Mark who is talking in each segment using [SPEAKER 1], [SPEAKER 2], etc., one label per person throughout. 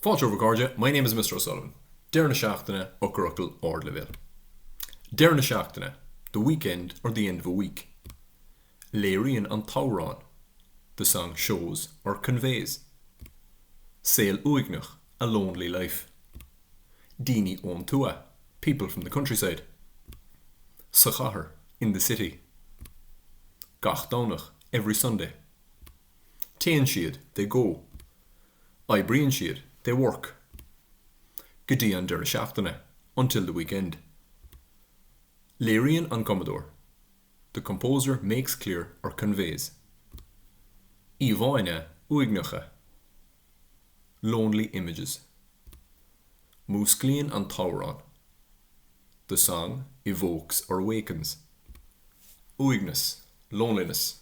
[SPEAKER 1] Fáilte romhaibh a chairde, my name is Mr. O'Sullivan. Deireadh na seachtaine, eochairfhocail ardleibhéil. Deireadh na seachtaine, the weekend or the end of a week. Léiríonn an t-amhrán, the song shows or conveys. Saol uaigneach, a lonely life. Daoine ón tuath, people from the countryside. Sa chathair, in the city. Gach Domhnach, every Sunday. Téann siad, they go. Oibríonn siad, they work. Go dtí an deireadh seachtaine, until the weekend. Léiríonn an cumadóir, the composer makes clear or conveys. Íomhánna uaigneacha, lonely images. Músclaíonn an t-amhrán, the song evokes or awakens. Uaigneas, loneliness.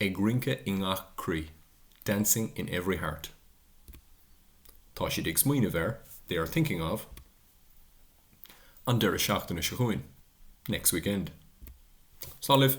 [SPEAKER 1] Ag rince i ngach croí, dancing in every heart. Tá siad ag smaoineamh ar, they are thinking of. An deireadh seachtaine seo chugainn, next weekend. Slán libh!